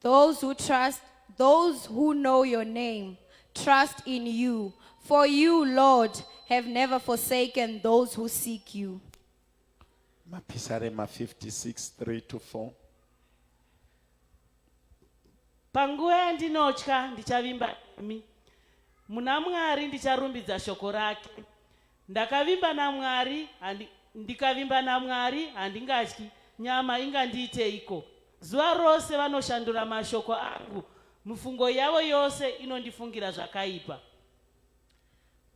Those who trust, those who know your name, trust in you. For you, Lord, have never forsaken those who seek you. Mapisarema 56, 3 to 4. panguva yandinotya ndichavimba nemi muna mwari ndicharumbidza shoko rake Ndakavimba naMwari handi, ndikavimba naMwari handingatyi, nyama ingandiiteiko? Zuva rose vanoshandura mashoko angu, mifungo yavo yose inondifungira zvakaipa.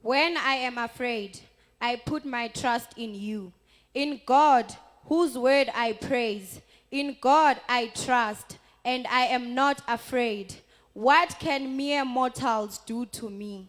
When I am afraid, I put my trust in you. In God, whose word I praise, in God I trust, and I am not afraid. What can mere mortals do to me?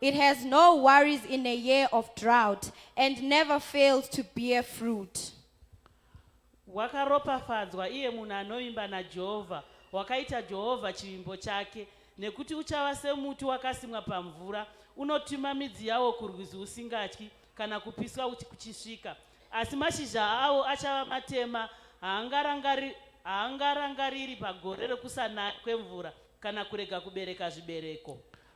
It has no worries in a year of drought and never fails to bear fruit. Wakaropafadzwa iye munhu anovimba naJehovha, wakaita Jehovha chivimbo chake, nekuti uchava semuti wakasimwa pamvura, unotuma midzi yawo kurwizi usingatyi kana kupiswa kuchisvika. Asi mashizha awo achava matema, haangarangari, haangarangariri pagore rekusanaya kwemvura kana kurega kubereka zvibereko.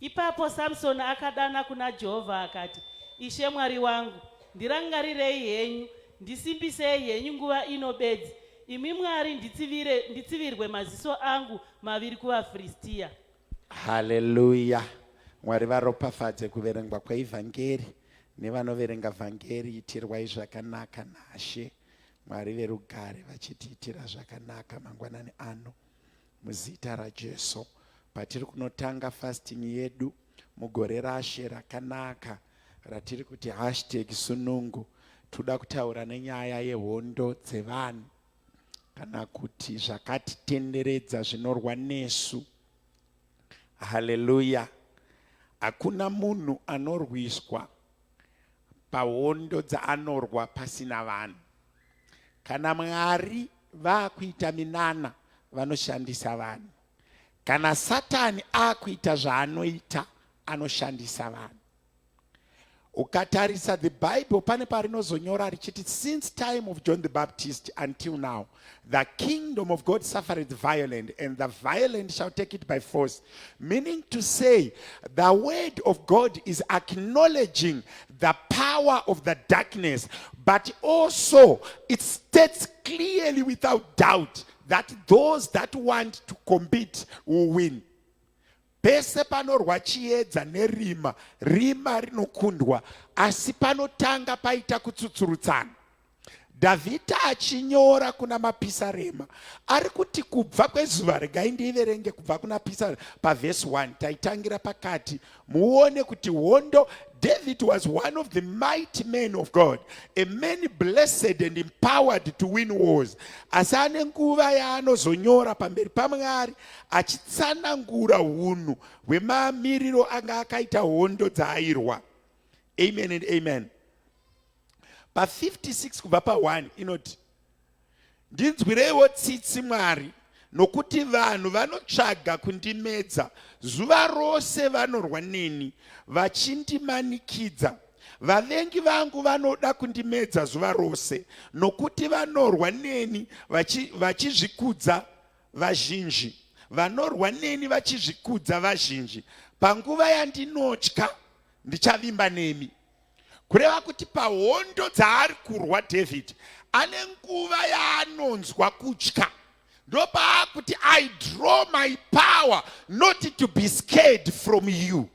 Ipapo Samsoni akadana kuna Jehovha akati, Ishe Mwari wangu, ndirangarirei henyu, ndisimbisei henyu nguva ino bedzi, imi Mwari nditsivire, nditsivirwe maziso angu maviri kuvaFiristiya. Haleluya! Mwari varopafadze kuverengwa kweivhangeri nevanoverenga vhangeri. Itirwai zvakanaka naShe Mwari verugare vachitiitira zvakanaka mangwanani ano. Muzita raJesu patiri kunotanga fasting yedu mugore rashe rakanaka ratiri kuti hashtag sunungu toda kutaura nenyaya yehondo dzevanhu kana kuti zvakatitenderedza zvinorwa nesu haleluya hakuna munhu anorwiswa pahondo dzaanorwa pasina vanhu Kana Mwari vakuita minana vanoshandisa vanhu. Kana Satani akuita zvaanoita anoshandisa vanhu. Ukatarisa the Bible pane parinozonyora richiti since time of John the Baptist until now the kingdom of God suffered violent and the violent shall take it by force meaning to say the word of God is acknowledging the power of the darkness, but also it states clearly without doubt that those that want to compete will win. pese panorwa chiedza nerima rima rinokundwa asi panotanga paita kutsutsurutsana Dhavhidha achinyora kuna mapisarema ari kuti kubva kwezuva regai ndiiverenge kubva kuna pisa pavhesi 1 taitangira pakati muone kuti hondo David was one of the mighty men of God, a man blessed and empowered to win wars. Asi ane nguva yaanozonyora pamberi paMwari achitsanangura hunhu hwemamiriro anga akaita hondo dzaairwa. Amen and amen. pa 56 kubva pa 1 inoti ndinzwireiwo tsitsi mwari nokuti vanhu vanotsvaga kundimedza zuva rose vanorwa neni vachindimanikidza vavengi vangu vanoda kundimedza zuva rose nokuti vanorwa neni vachizvikudza vachi vazhinji vanorwa neni vachizvikudza vazhinji panguva yandinotya ndichavimba nemi kureva kuti pahondo dzaari kurwa david ane nguva yaanonzwa kutya ndopaakuti i draw my power not to be scared from you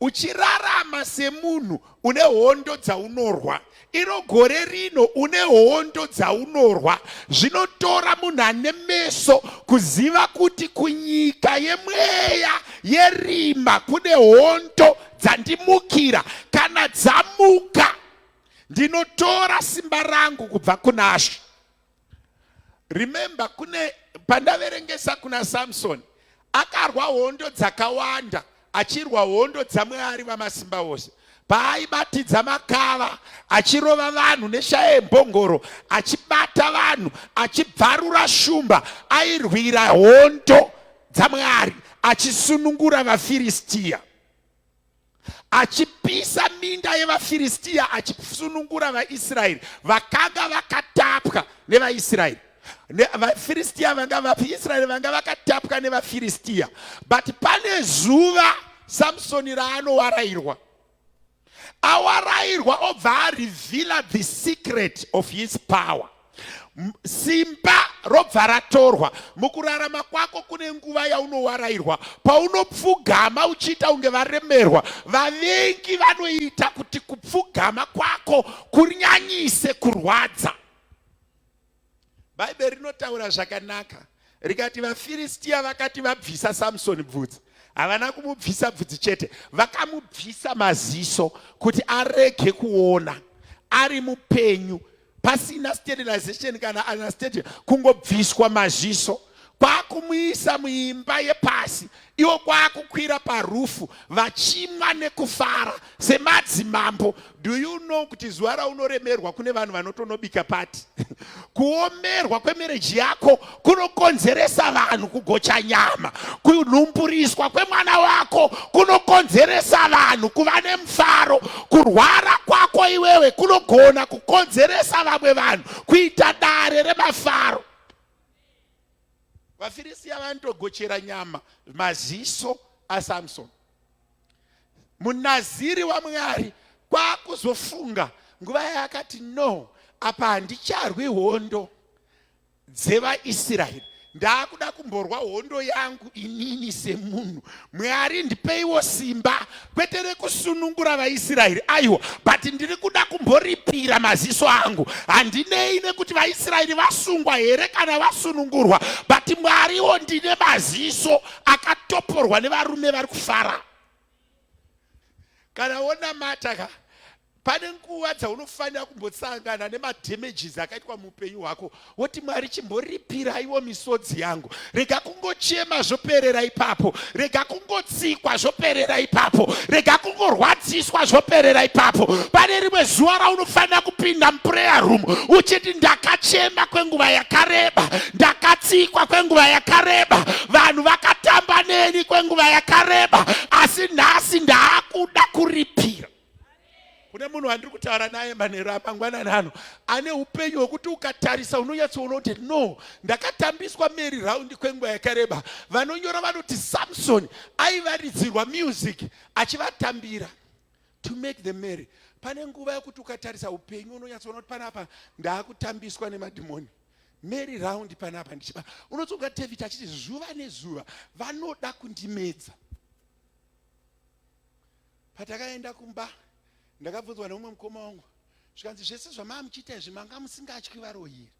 uchirarama semunhu une hondo dzaunorwa iro gore rino une hondo dzaunorwa zvinotora munhu ane meso kuziva kuti kunyika yemweya yerima kune hondo dzandimukira kana dzamuka ndinotora simba rangu kubva kunashe Remember kune pandaverengesa kuna Samson akarwa hondo dzakawanda achirwa hondo dzamwari vamasimba vose paaibatidza makava achirova vanhu neshaya yembongoro achibata vanhu achibvarura shumba airwira hondo dzamwari achisunungura vafiristiya achipisa minda yevafiristia achisunungura vaisraeri vakanga vakatapwa nevaisraeri vafiristia vanga vaisraeri vanga vakatapwa nevafiristia but pane zuva samsoni raanowarairwa awarairwa obva arevila the secret of his power simba robva ratorwa mukurarama kwako kune nguva yaunowarairwa paunopfugama uchiita kunge varemerwa vavengi vanoita kuti kupfugama kwako kunyanyise kurwadza bhaibheri rinotaura zvakanaka rikati vafiristiya vakati vabvisa samsoni bvudzi havana kumubvisa bvudzi chete vakamubvisa maziso kuti arege kuona ari mupenyu pasina sterilization kana anesthetic kungobviswa maziso kwakumuisa muimba yepasi iwo kwakukwira parufu vachimwa nekufara semadzimambo do you know kuti zuva raunoremerwa kune vanhu vanotonobika pati kuomerwa kwemereji yako kunokonzeresa vanhu kugocha nyama kunhumburiswa kwemwana wako kunokonzeresa vanhu kuva nemufaro kurwara kwako iwewe kunogona kukonzeresa vamwe vanhu kuita dare remafaro vafirisiya vanotogochera nyama maziso asamsoni munaziri wamwari kwakuzofunga nguva yaakati no apa handicharwi hondo dzevaisraeri ndaakuda kumborwa hondo yangu inini semunhu mwari ndipeiwo simba kwete rekusunungura vaisraeri aiwa but ndiri kuda kumboripira maziso angu handinei nekuti vaisraeri vasungwa here kana vasunungurwa but mwariwo ndine maziso akatoporwa nevarume vari kufara kana wonamata ka pane nguva dzaunofanira kumbosangana nemadamages akaitwa muupenyu hwako woti mwari chimboripiraiwo misodzi yangu rega kungochema zvoperera ipapo rega kungotsikwa zvoperera ipapo rega kungorwadziswa zvoperera ipapo pane rimwe zuva raunofanira kupinda muprayer room uchiti ndakachema kwenguva yakareba ndakatsikwa kwenguva yakareba vanhu vakatamba neni kwenguva yakareba asi nhasi ndaakuda kuripira kune munhu wandiri kutaura naye manhero amangwanani ano ane upenyu hwekuti ukatarisa unonyatsoona kuti no ndakatambiswa mary raundi kwenguva yakareba vanonyora vanoti samsoni aivaridzirwa music achivatambira to make the mary pane nguva yekuti ukatarisa upenyu unonyatsoona kuti panapa ndaakutambiswa nemadhimoni Mary round panapa ndichiba unotonga David achiti zuva nezuva vanoda kundimedza patakaenda kumba ndakabvunzwa neumwe mukoma wangu zvikanzi zvese zvamaa muchiita izvi manga musingatyi varoyi here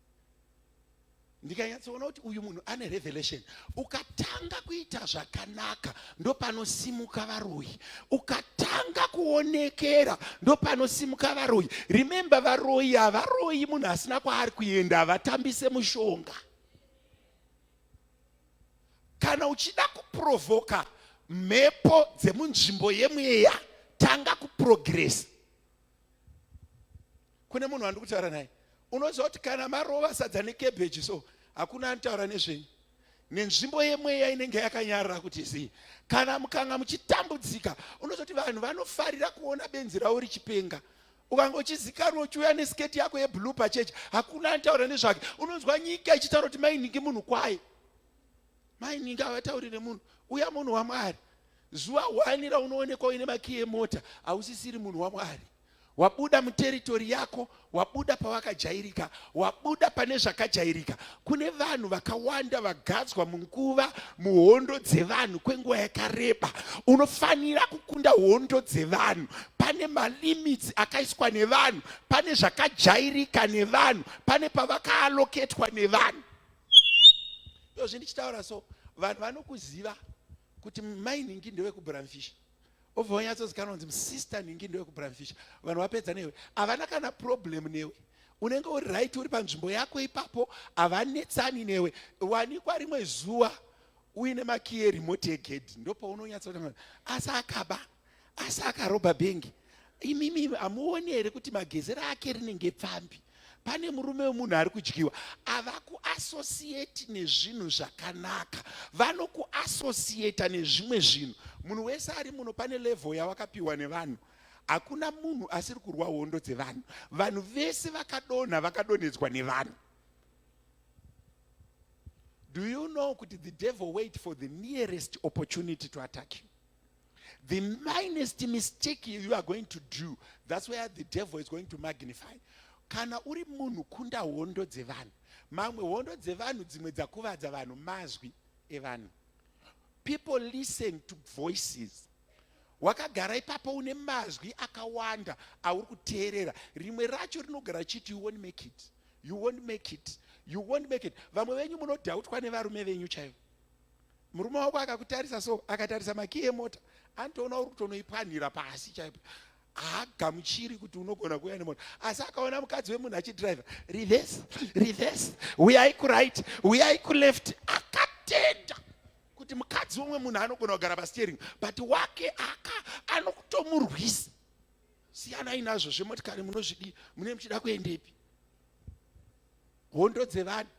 ndikanyatsoona kuti uyu munhu ane revelation ukatanga kuita zvakanaka ndopanosimuka varoyi ukatanga kuonekera ndopanosimuka varoyi remembe varoyi havaroyi munhu asina kwaari kuenda havatambise mushonga kana uchida kuprovhoka mhepo dzemunzvimbo yemweya tanga kuprogresa kune munhu wandiri kutaura naye unoziva kuti kana marova sadza nekebheji so hakuna anotaura nezvenyu nenzvimbo yemweya inenge yakanyarara kuti zii kana mukanga muchitambudzika unozoti vanhu vanofarira kuona benzi ravo richipenga ukanga uchizikanwa uchiuya nesiketi yako yeblue pachechi hakuna anotaura nezvake unonzwa nyika ichitaura kuti mainhingi munhu kwaye maini ngavataurire munhu uya munhu wamwari zuva hwani raunoonekwa uine makiyi emota hausisiri munhu wamwari wabuda muteritori yako wabuda pavakajairika wabuda pane zvakajairika kune vanhu vakawanda vagadzwa munguva muhondo dzevanhu kwenguva yakareba unofanira kukunda hondo dzevanhu pane malimitsi akaiswa nevanhu pane zvakajairika nevanhu pane pavakaaloketwa nevanhu ndozvi ndichitaura so vanhu vanokuziva kuti mai nhingi ndewekubramfisha obva wanyatsozikanwa kunzi musista nhingi ndewekubramfisha vanhu vapedza newe havana kana problem newe unenge uri right uri panzvimbo yako ipapo havanetsani newe wanikwa rimwe zuva uine makiye remote egedhi ndopaunonyatsoa asi akaba ah, asi akaroba bhengi imimi hamuoni here kuti magezero ake rinenge pfambi pane murume wemunhu ari kudyiwa avakuassociate nezvinhu zvakanaka vanokuassociata nezvimwe zvinhu munhu wese ari muno pane level yawakapiwa nevanhu hakuna munhu asiri kurwa hondo dzevanhu vanhu vese vakadonha vakadonhedzwa nevanhu do you know kuti the devil wait for the nearest opportunity to attack you The minest mistake you are going to do, that's where the devil is going to magnify. Kana uri munhu kunda hondo dzevanhu, mamwe hondo dzevanhu dzimwe dzakuvadza vanhu mazwi evanhu. People listen to voices. Wakagara ipapo une mazwi akawanda auri kuteerera. Rimwe racho rinogara chiti you won't make it. You won't make it. You won't make it. Vamwe venyu munodhautwa nevarume venyu chaivo. murume wako akakutarisa so akatarisa makiyi emota anotoona uri kutonoipwanhira pasi chaipo haagamuchiri kuti unogona kuuya nemota asi akaona mukadzi wemunhu achidrive reverse reverse uyai kuright uyai kuleft akatenda kuti mukadzi womwe munhu anogona kugara pasteering but wake aka anokutomurwisa siyanai nazvo zvemotikari munozvidii mune muchida kuendepi hondo dzevanhu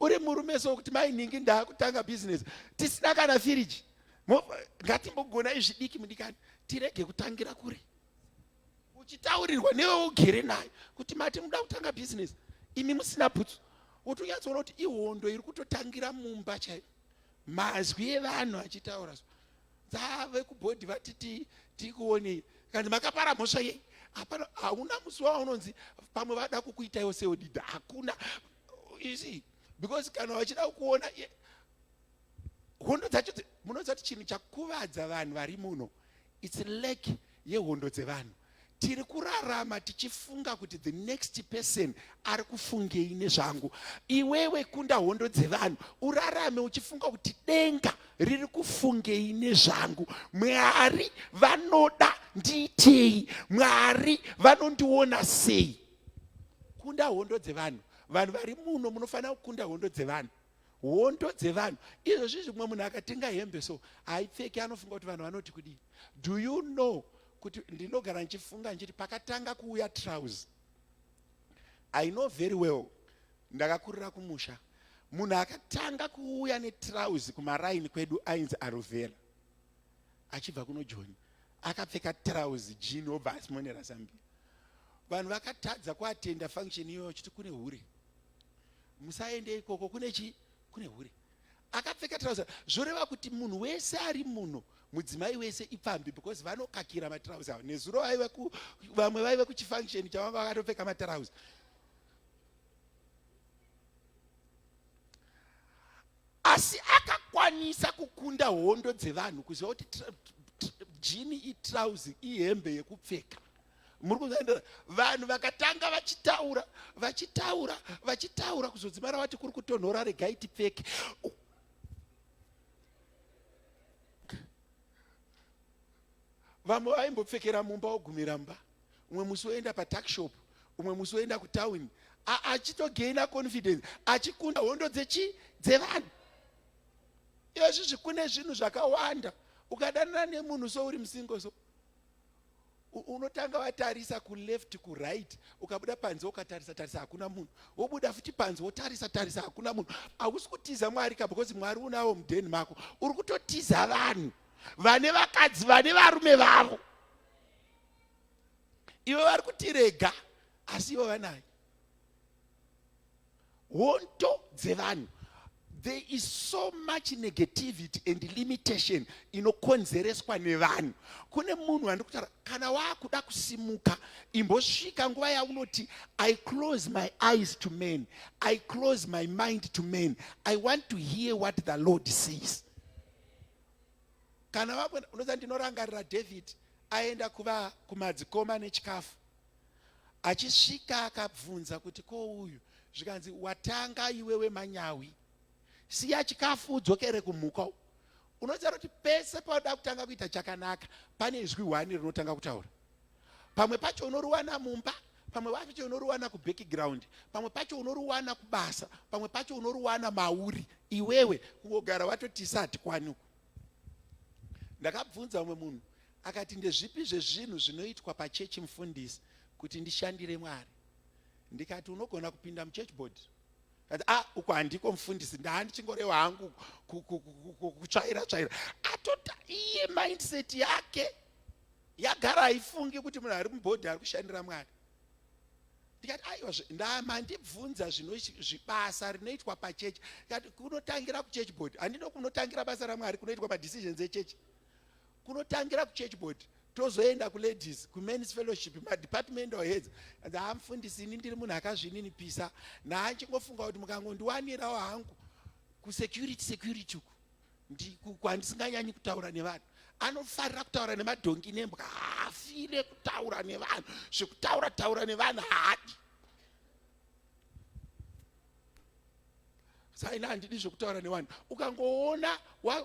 uri murume so kuti mai nhingi ndaakutanga business tisina kana firiji ngatimbogona izvidiki mudikani tirege kutangira kuri uchitaurirwa newe ugere nayo kuti mati muda kutanga business imi musina bhutsu wotonyatsoona kuti ihondo iri kutotangira mumba chaiyo mazwi evanhu achitaura so dza vekubhodhi vati ti tikuone kandi makapara mhosva yei hapana hauna musi waunonzi pamwe vada kukuitaiwo seodida hakuna you see because kana vachida kukuona hondo dzacho munoziva kuti chinhu chakuvadza vanhu vari muno its lack yehondo dzevanhu tiri kurarama tichifunga kuti the next person ari kufungei nezvangu iwewe kunda hondo dzevanhu urarame uchifunga kuti denga riri kufungei nezvangu mwari vanoda ndiitei mwari vanondiona sei kunda hondo dzevanhu vanhu vari muno munofanira kukunda hondo dzevanhu hondo dzevanhu izvozvi zvimwe munhu akatenga hembe so haipfeki anofunga kuti vanhu vanoti kudii do you know kuti ndinogara ndichifunga ndichiti pakatanga kuuya trouse i know very well ndakakurira kumusha munhu akatanga kuuya netrouse kumaraini kwedu ainzi arovera achibva kuno joni akapfeka trouse jini obva asimonera zambia vanhu vakatadza kuatenda function iyoyo chiti kune hure musaende ikoko kune chi kune hure akapfeka trouser zvoreva kuti munhu wese ari muno mudzimai wese ipfambi because vanokakira matrauzi avo nezuro vaive ku vamwe vaive kuchifunction chavanga vakatopfeka matrauzi asi akakwanisa kukunda hondo dzevanhu kuziva kuti jini itrauzi ihembe yekupfeka muri kunzanidora vanhu vakatanga vachitaura vachitaura vachitaura kuzodzimara wati kuri kutonhora regai tipfeke vamwe vaimbopfekera mumba wogumira mba umwe musi woenda patakshop umwe musi woenda kutawini achitogaina confidence achikunda hondo dzechi dzevanhu izvi zvikune zvinhu zvakawanda ukadanana nemunhu so uri musingo so unotanga watarisa kuleft kuright ukabuda panze ukatarisa tarisa hakuna munhu wobuda futi panze wotarisa tarisa hakuna munhu hausi kutiza mwari ka because mwari unawo mudheni mako uri kutotiza vanhu vane vakadzi vane varume vavo ivo vari kutirega asi ivo vanayo hondo dzevanhu there is so much negativity and limitation inokonzereswa nevanhu kune munhu wandi kutaura kana waakuda kusimuka imbosvika nguva yaunoti i close my eyes to men i close my mind to men i want to hear what the lord says kana vamwe unoza ndinorangarira david aenda kuva kumadzikoma nechikafu achisvika akabvunza kuti ko uyu zvikanzi watanga iwewe manyawi siya chikafu udzokere kumhuka unoziva kuti pese pauda kutanga kuita chakanaka pane izwi hwani rinotanga kutaura pamwe pacho unoriwana mumba pamwe pacho unoriwana kubackground pamwe pacho unoriwana kubasa pamwe pacho unoriwana mauri iwewe kungogara watoti sati kwani uku ndakabvunza umwe munhu akati ndezvipi zvezvinhu zvinoitwa pachechi mufundisi kuti ndishandire mwari ndikati unogona kupinda muchurch board kati a ah, uko handiko mufundisi ndaandichingorewa hangu kutsvaira tsvaira atota iye mindset yake yagara haifungi kuti munhu ari mubhodhi ari kushandira mwari ndikati aiwa mandibvunza zvinozvibasa rinoitwa pachechi ndikati kunotangira kuchechi board handino kunotangira basa ramwari kunoitwa madecisions echechi kunotangira kuchechi board tozoenda kuladies kumens fellowship madepartmental heads and hamfundisi ini ndiri munhu akazvininipisa naachingofunga kuti mukangondiwanirawo hangu kusecurity security uku ndikandisinganyanyi kutaura nevanhu anofarira kutaura nemadhongi nembwa haafire kutaura nevanhu zvekutaura taura nevanhu haadi saina handidi zvekutaura nevanhu ukangoona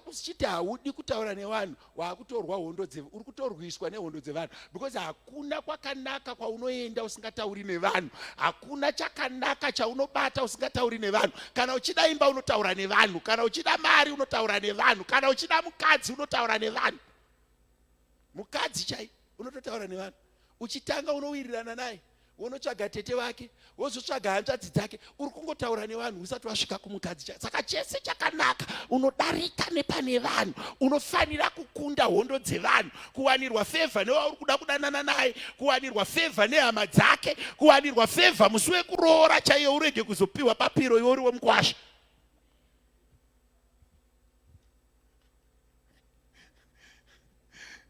usichiti haudi kutaura nevanhu wakutorwa hondo dze uri kutorwiswa nehondo dzevanhu because hakuna kwakanaka kwaunoenda usingatauri nevanhu hakuna chakanaka chaunobata usingatauri nevanhu kana uchida imba unotaura nevanhu kana uchida mari unotaura nevanhu kana uchida mukadzi unotaura nevanhu mukadzi chai unototaura nevanhu uchitanga unowirirana naye wonotsvaga tete vake wozotsvaga hanzvadzi dzake uri kungotaura nevanhu usati wasvika kumukadzi cha saka chese chakanaka unodarika nepane vanhu unofanira kukunda hondo dzevanhu kuwanirwa fevha newauri kuda kudanana naye kuwanirwa fevha nehama dzake kuwanirwa fevha musi wekuroora chaiye urege kuzopiwa papiro iwe uri wemukwasha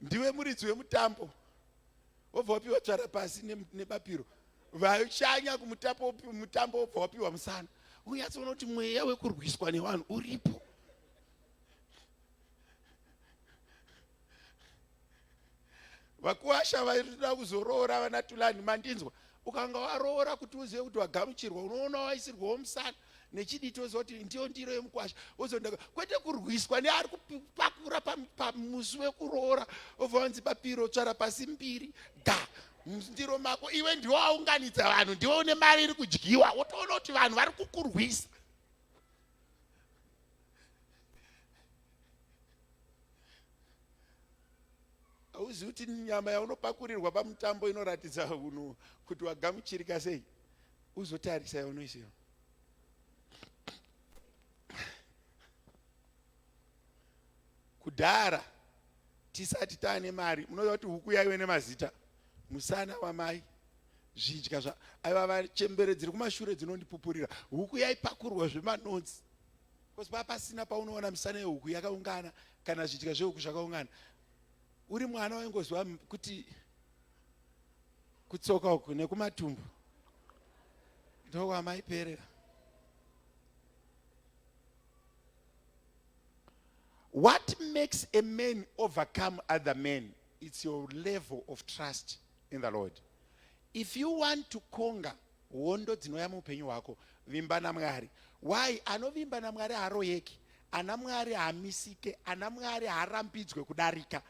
ndiwe muridzi wemutambo wobva wapiwa tsvara pasi nebapiro vashanya kumutambo mutambo wobva wapiwa musana unyatsoona kuti mweya wekurwiswa nevanhu uripo vakuwasha vaida kuzoroora vana tulani mandinzwa ukanga waroora kuti uzive kuti wagamuchirwa unoona waisirwawo musana nechidii toziva kuti ndiyo ndiro yemukwasha wozondaka kwete kurwiswa neari kupakura pamusi wekuroora obva vanzi bapiro tsvara pasi mbiri ga ndiro mako iwe ndiwo aunganidza vanhu ndiwo une mari iri kudyiwa wotoona kuti vanhu vari kukurwisa hauzivi kuti nyama yaunopakurirwa pamutambo inoratidza kuti wagamuchirika sei uzotarisa iwe noise iyo kudhara tisati taane mari munoziva kuti huku yaive nemazita musana wamai zvidya zva aiva vachembere dziri kumashure dzinondipupurira huku yaipakurwa zvemanonzi bcause paa pasina paunoona misana yehuku yakaungana kana zvidya zvehuku zvakaungana uri mwana waingoziva kuti kutsoka uku nekumatumbu ndokwamaiperera what makes a man overcome other men it's your level of trust in the lord if you want to conquer Hondo dzinouya muupenyu hwako. Vimba naMwari. Why? Anovimba naMwari haaroyeki. Ana Mwari haamisike. Ana Mwari haarambidzwe kudarika.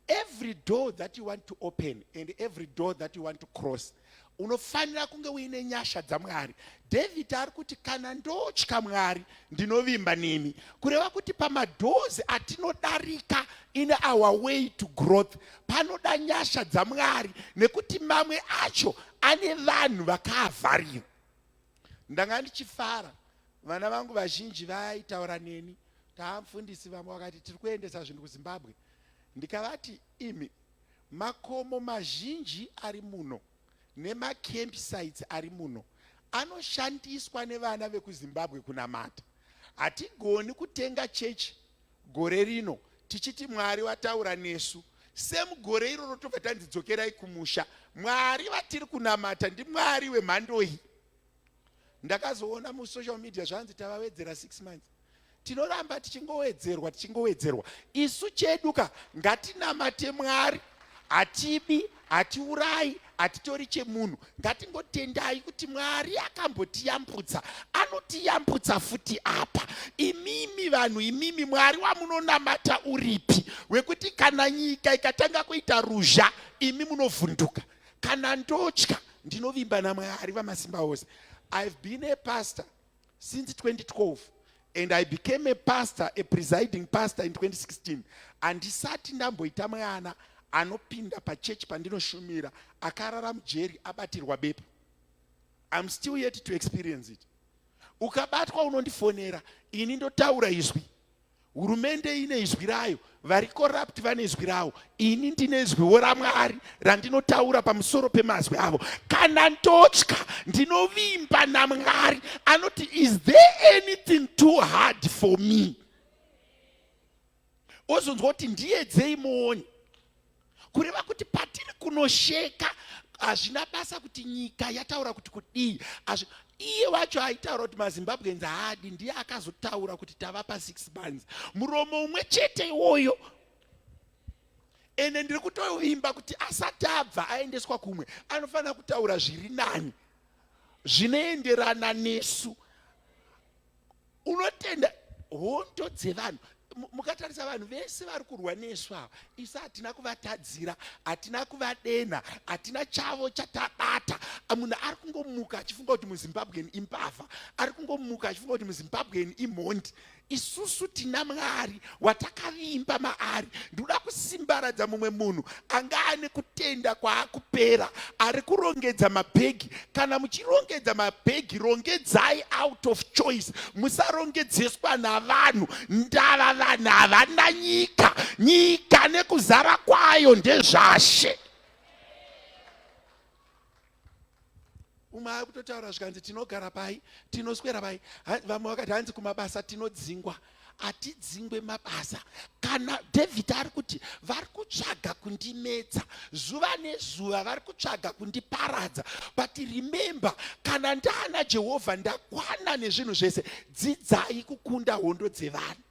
Every door that you want to open and every door that you want to cross unofanira kunge uine nyasha dzaMwari. David ari kuti kana ndotya Mwari ndinovimba nemi kureva kuti pamadhozi atinodarika in our way to growth panoda nyasha dzamwari nekuti mamwe acho ane vanhu vakaavharira ndanga ndichifara vana vangu vazhinji vaitaura neni taamfundisi vamwe vakati tiri kuendesa zvinhu kuzimbabwe ndikavati imi makomo mazhinji ari muno nemacamp sites ari muno anoshandiswa nevana vekuzimbabwe kunamata hatigoni kutenga chechi gore rino tichiti mwari vataura nesu semugore iroro tobva tanzi dzokerai kumusha mwari vatiri kunamata ndimwari wemhandoyi ndakazoona musocial media zvanzi tavawedzera six months tinoramba tichingowedzerwa tichingowedzerwa isu chedu ka ngatinamate mwari hatibi hatiurayi hatitori chemunhu ngatingotendai kuti mwari akambotiyambutsa anotiyambutsa futi apa imimi vanhu imimi mwari wamunonamata uripi wekuti kana nyika ikatanga kuita ruzha imi munovhunduka kana ndotya ndinovimba namwari vamasimba ose i've been a pastor since 2012 and i became a pastor a presiding pastor in 2016 handisati ndamboita mwana anopinda pachechi pandinoshumira akarara mujeri abatirwa bepa iam still yet to experience it ukabatwa unondifonera ini ndotaura izwi hurumende ine izwi rayo vari corrupt vane izwi ravo ini ndine izwiwo ramwari randinotaura pamusoro pemazwi avo kana ndotya ndinovimba namwari anoti is there anything too hard for me ozonzwa kuti ndiyedzei muoni kureva kuti patiri kunosheka hazvina basa kuti nyika yataura kuti kudii iye wacho aitaura kuti mazimbabweans haadi ndiye akazotaura kuti tavapa six months muromo umwe chete iwoyo ende ndiri kutovimba kuti asati abva aendeswa kumwe anofanira kutaura zviri nani zvinoenderana nesu unotenda hondo dzevanhu mukatarisa vanhu vese vari kurwa nesu ava isu hatina kuvatadzira hatina kuvadenha hatina chavo chatabata munhu ari kungomuka achifunga kuti muzimbabwen imbavha ari kungomuka achifunga kuti muzimbabwen imhondi isusu tina mwari watakavimba maari ndinoda kusimbaradza mumwe munhu anga ane kutenda kwaakupera ari kurongedza mabhegi kana muchirongedza mabhegi rongedzai out of choice musarongedzeswa navanhu ndava vanhu havana nyika nyika nekuzara kwayo ndezvashe umwe akutotaura zvikanzi tinogara pai tinoswera pai vamwe vakati hanzi kumabasa tinodzingwa hatidzingwe mabasa kana david ari kuti vari kutsvaga kundimedza zuva nezuva vari kutsvaga kundiparadza but remember kana ndaana jehovha ndakwana nezvinhu zvese dzidzai kukunda hondo dzevanhu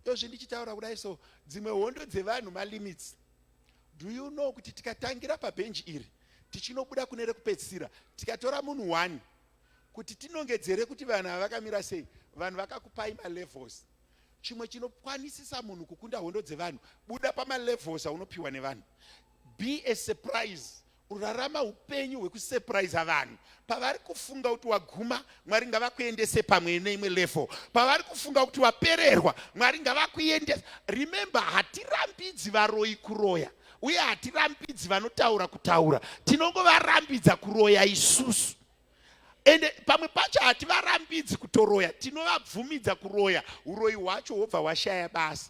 yozvi ndichitaura kudai so dzimwe hondo dzevanhu malimits Do you know kuti tikatangira pabhenji iri tichinobuda kune rekupedzisira tikatora munhu one kuti tinongedzere kuti vanhu ava vakamira sei vanhu vakakupai malevels chimwe chinokwanisisa munhu kukunda hondo dzevanhu buda pamalevels aunopiwa nevanhu be a surprise Kurarama upenyu hwekusurprise vanhu pavari kufunga kuti waguma mwari ngavakuendese pamwe neimwe level pavari kufunga kuti wapererwa mwari ngavakuendesa remember hatirambidzi varoyi kuroya uye hatirambidzi vanotaura kutaura tinongovarambidza kuroya isusu ende pamwe pacho hativarambidzi kutoroya tinovabvumidza kuroya uroyi hwacho hwobva hwashaya basa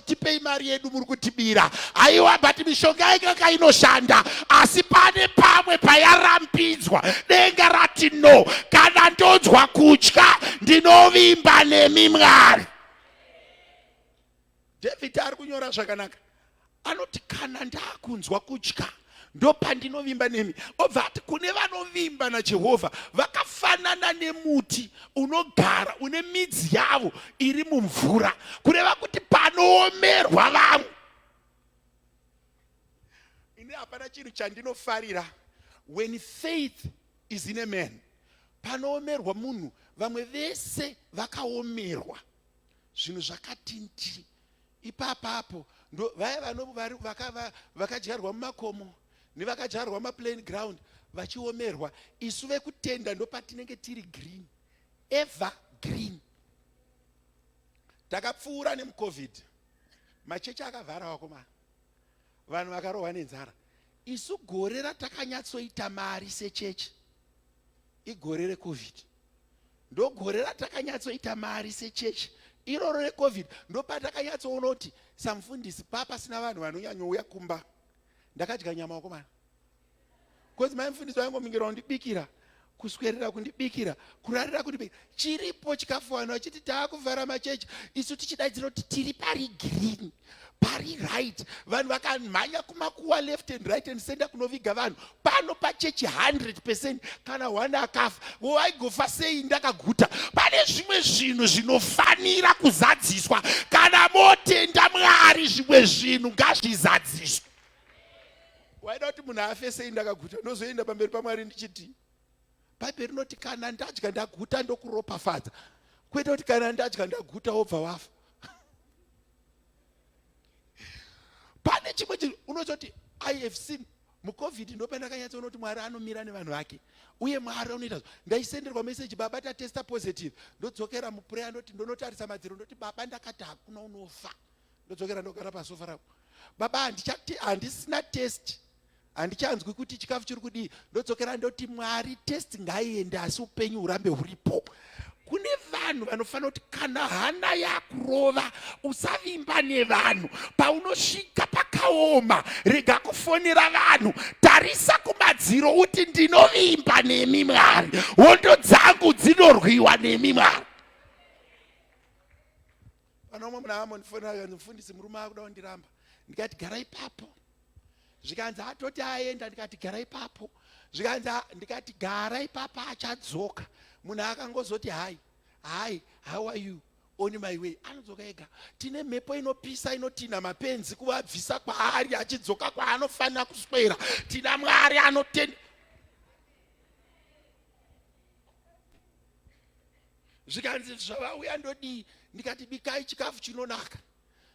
tipei mari yedu muri kutibira aiwa but mishonga yaikaka inoshanda asi pane pamwe payarambidzwa denga rati no kana ndonzwa kutya ndinovimba nemi mwari david ari kunyora zvakanaka anoti kana ndakunzwa kutya ndopandinovimba nemi obva ati kune vanovimba najehovha vakafanana nemuti unogara une midzi yavo iri mumvura kureva kuti panoomerwa vamwe ini hapana chinhu chandinofarira when faith is in a man panoomerwa munhu vamwe vese vakaomerwa zvinhu zvakatinti ipapapo ndo vaya vakadyarwa mumakomo nevakadyarwa maplain ground vachiomerwa isu vekutenda ndopatinenge tiri green ever green takapfuura nemucovid machechi akavhara wakomana vanhu vakarohwa nenzara isu gore ratakanyatsoita mari sechechi igore recovid ndogore ratakanyatsoita mari sechechi iroro recovid ndopatakanyatsoona kuti samufundisi papasina vanhu vanonyanyouya kumba ndakadya nyama wakomana bcause mai mufundisi vaingomingirwa kundibikira kuswerera kundibikira kurarira kundibikira chiripo chikafu vanhu vachiti taakuvhara machechi isu tichidaidzira kuti tiri pari green pari right vanhu vakamhanya kumakuwa left and right and center kunoviga vanhu pano pachechi 100 percent kana one akafa woaigofa sei ndakaguta pane zvimwe zvinhu zvinofanira kuzadziswa kana motenda mwari zvimwe zvinhu ngazvizadziswe waida kuti munhu afe sei ndakaguta ndozoenda pamberi pamwari ndichiti bhaibheri rinoti kana ndadya ndaguta ndokuropafadza kwete kuti kana ndadya ndaguta wobva wafa pane chimwe chinhu unozoti i have seen mucovid ndopandakanyatsa unoti mwari anomira nevanhu vake uye mwari anoita ndaisenderwa meseji baba tatesta positive ndodzokera mupureya ndoti ndonotarisa madziro ndoti baba ndakati hakuna unofa ndodzokera ndogara pasofa rako baba handisina test handichanzwi kuti chikafu chiri kudii ndodzokera ndoti mwari test ngaiende asi upenyu hurambe huripo kune vanhu vanofanira kuti kana hana yakurova usavimba nevanhu paunosvika pakaoma rega kufonera vanhu tarisa kumadziro uti ndinovimba nemi mwari hondo dzangu dzinorwiwa nemi mwari Pana umwe muna Amon fona mfundisi murume akuda kundiramba ndikati gara ipapo zvikanzi atoti aenda ndikati gara ipapo zvikanzi ndikati gara ipapo achadzoka munhu akangozoti hai hai how are you on my way anodzoka ega tine mhepo inopisa inotinha mapenzi kuvabvisa kwaari achidzoka kwaanofanira kuswera tina mwari anotenda zvikanzi zvavauya ndodii ndikati bikai chikafu chinonaka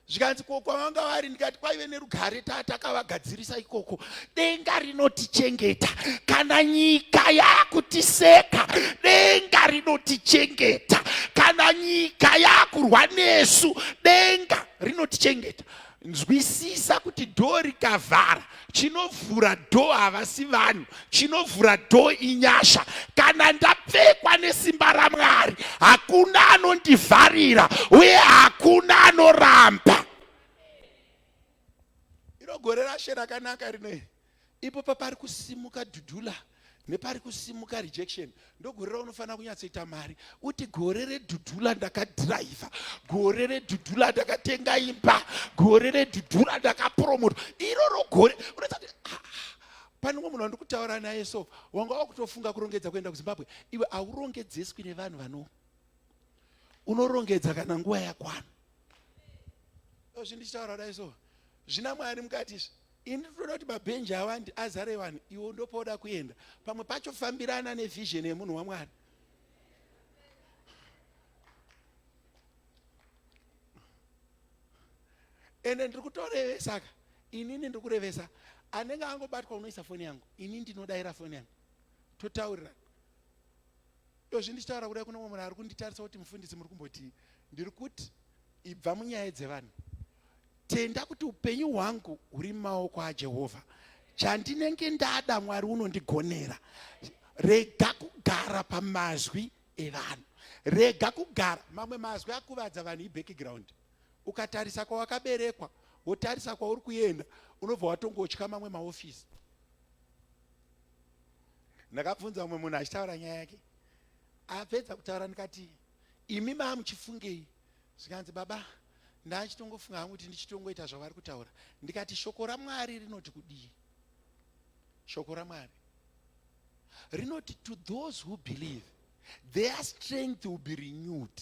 zvikanzi ko kwavanga vari ndikati kwaive nerugare tatakavagadzirisa ikoko denga rinotichengeta kana nyika yakutiseka denga rinotichengeta kana nyika yakurwa nesu denga rinotichengeta Nzwisisa kuti dhoo rikavhara chinovhura dhoo havasi vanhu chinovhura dhoo inyasha kana ndapfekwa nesimba ramwari hakuna anondivharira uye hakuna anoramba iro gore rashe rakanaka rinoiri ipo papari kusimuka dhudhula nepari kusimuka rejection ndogore raunofanira kunyatsoita mari uti gore redhudhula ndakadhiraivha gore redhudhula ndakatenga imba gore redhudhula ndakapromota iroro gore unoita kuti ah, ah, pane umwe munhu wandikutaura naye so wanga wakutofunga kurongedza kuenda kuzimbabwe iwe aurongedzeswi nevanhu vano unorongedza kana nguva yakwana zvindichitaura dai so zvina mwari mukati izvi ini ndinoda kuti mabhenji awandi azare vanhu iwo ndopoda kuenda pamwe pacho fambirana nevision yemunhu wamwari ende ndiri kutorevesa ka inini ndiri kurevesa anenge angobatwa unoisa foni yangu ini ndinodaira foni yangu totaurirana Dozvi ndichitaura kudai kune umwe munhu ari kunditarisa kuti mufundisi muri kumbotii? Ndiri kuti ibva munyaya dzevanhu. Tenda kuti upenyu hwangu huri mumaoko aJehovha. Chandinenge ndada Mwari unondigonera. Rega kugara pamazwi evanhu. Rega kugara mamwe mazwi akuvadza vanhu ibackground. Ukatarisa kwawakaberekwa, wotarisa kwauri kuenda, unobva watongotya mamwe maofisi. ndakabvunza umwe munhu achitaura nyaya yake apedza kutaura ndikati imi maa muchifungei zvikanzi baba ndachitongofunga hangu kuti ndichitongoita zvavari kutaura ndikati shoko ramwari rinoti kudii shoko ramwari rinoti to those who believe their strength will be renewed